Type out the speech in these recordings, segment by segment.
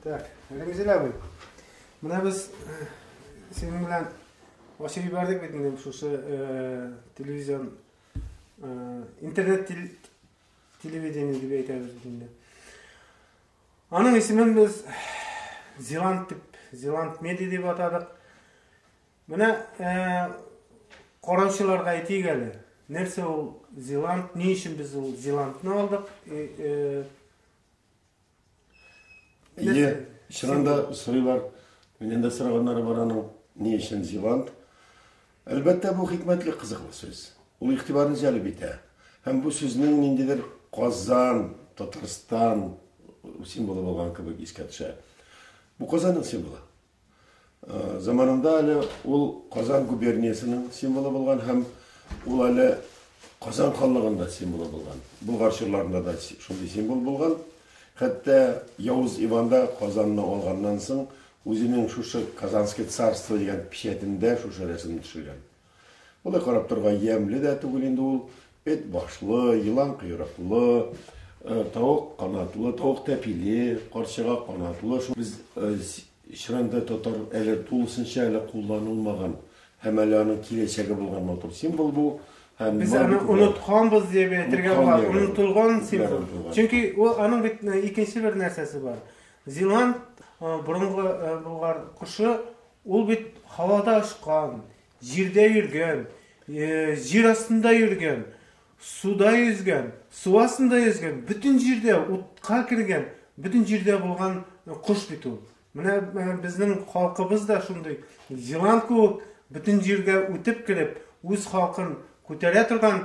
Так, Рәмзил абый, менә без э, синең белән ачып җибәрдек бит инде шушы э, телевизион э, интернет телевидение дип әйтәбез бит инде. Аның исемен без Зеланд дип, Зеланд медиа дип атадык. Менә ә, караучыларга әйтик әле, нәрсә ул Зеланд, ни өчен без ул Зеландны алдык? Э, э, Ие, чыннан да сорыйлар, миннән дә сораганнары бар аның, ни өчен Зеланд? Әлбәттә, бу хикмәтле кызыклы сүз. Ул игътибарны җәлеп итә. Һәм бу сүзнең ниндидер Казан, Татарстан символы булган кебек искә төшә. Бу Казанның символы. Заманында әле ул Казан губерниясенең символы булган һәм ул әле Казан ханлыгында символы булган. Булгар чорларында да шундый символ булган. Хәтта Явыз Иван да Казанны алганнан соң үзенең шушы Казанское царство дигән печәтендә шушы рәсемне төшергән. Болай карап торга ямьле дә түгел инде ул. Эт башлы, елан койрыклы, тавык канатлы, тавык тәпиле, карчыга канатлы. Шул без чиранда татар әле тулысынча әле кулланылмаган һәм әле аның киләчәге булган матур символ бу. Һәм без аны онытканбыз дип әйтергә була, онытылган символ. Чөнки ул аның бит икенче бер нәрсәсе бар. Зилан борынгы булган кошы Ул бит һавада очкан, җирдә йөргән, җир астында йөргән, суда йөзгән, су астында йөзгән, бөтен җирдә, утка кергән, бөтен җирдә булган кош бит ул. Менә безнең халкыбыз да шундый елан кебек бөтен җиргә үтеп кереп, үз халкын күтәрә торган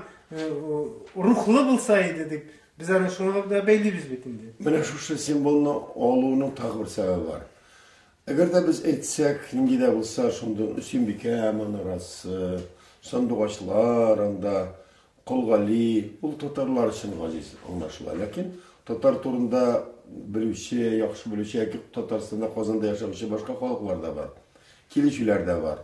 рухлы булса иде дип, без аны шуңа да бәйлибез бит инде. Менә шушы символны алуның тагы бер сәбәбе бар. Әгәр дә без әйтсәк, нинди дә булса шундый Өсенбикә манарасы, сандугачлар анда, Кол Гали, ул татарлар өчен газиз, аңлашыла. Ләкин татар турында белүче, яхшы белүче яки Татарстанда, Казанда яшәүче башка халыклар да бар, килешүләр дә бар.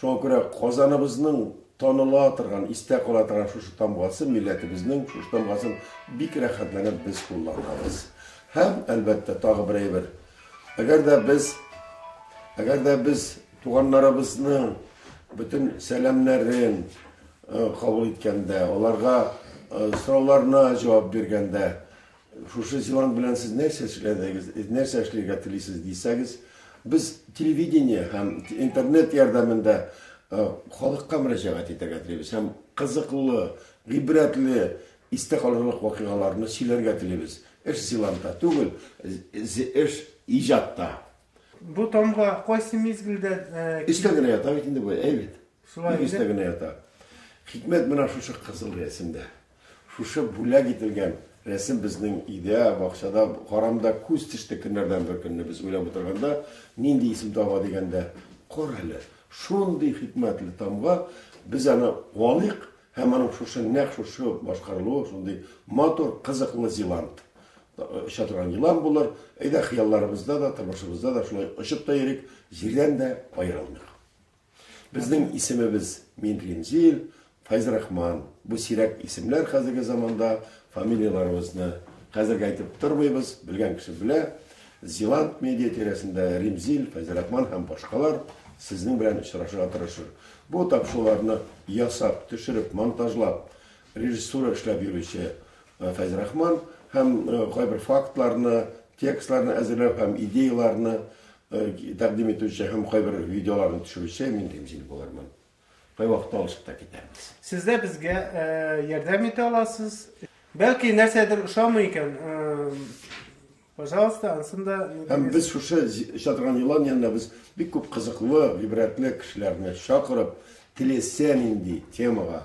Шуңа күрә Казаныбызның таныла торган, истә кала торган шушы тамгасы, милләтебезнең шушы тамгасын бик рәхәтләнеп без кулланабыз. Һәм, әлбәттә, тагы бер әйбер. Әгәр дә без, әгәр дә без туганнарыбызның бөтен сәламнәрен кабул иткәндә, аларга сорауларына җавап биргәндә, Шушы силанг белән сез нәрсә эшләдегез, нәрсә эшләргә телисез дисәгез, без телевидение һәм интернет ярдәмендә халыкка мөрәҗәгать итәргә телибез һәм кызыклы, гыйбрәтле, истә калырлык вакыйгаларны сөйләргә телибез. Эш силангта түгел, эш иҗатта. Бу тамга кайсы мизгелдә килде? Өстә генә ята бит инде бу, әй бит. Шулай инде. Бик өстә генә ята. Хикмәт менә шушы кызыл рәсемдә. Шушы бүләк ителгән рәсем безнең өйдә, бакчада, карамда күз төште көннәрдән бер көнне без уйлап утырганда, нинди исем таба дигәндә, кара әле, шундый хикмәтле тамга, без аны куаныйк һәм аның шушы, нәкъ шушы башкарылуы шундый матур, кызыклы зилант, оча торган елан булыр, әйдә, хыялларыбызда да, тормышыбызда да шулай очып та йөрик, җирдән дә аерылмыйк. Безнең исемебез Мин Римзил, Файзрахман. Бу сирәк исемләр хәзерге заманда, фамилияләребезне хәзерге әйтеп тормыйбыз, белгән кеше белә. Зилант медиа тирәсендә Римзил, Файзрахман һәм башкалар сезнең белән очрашырга тырышыр. Бу тапшыруларны ясап, төшереп, монтажлап, режиссура эшләп йөрүче Файзрахман һәм кайбер фактларны, текстларны әзерләп һәм идеяләрне Тәкъдим итүче һәм кайбер видеоларны төшерүче мин кем җил булырмын. Кайвакыт алышып та китәбез. Сез дә безгә ярдәм итә аласыз. Бәлки нәрсәдер ошамый икән, пожалуйста, ансын да. Һәм без шушы оча торган елан янына без бик күп кызыклы, гыйбрәтле кешеләрне чакырып, теләсә нинди темага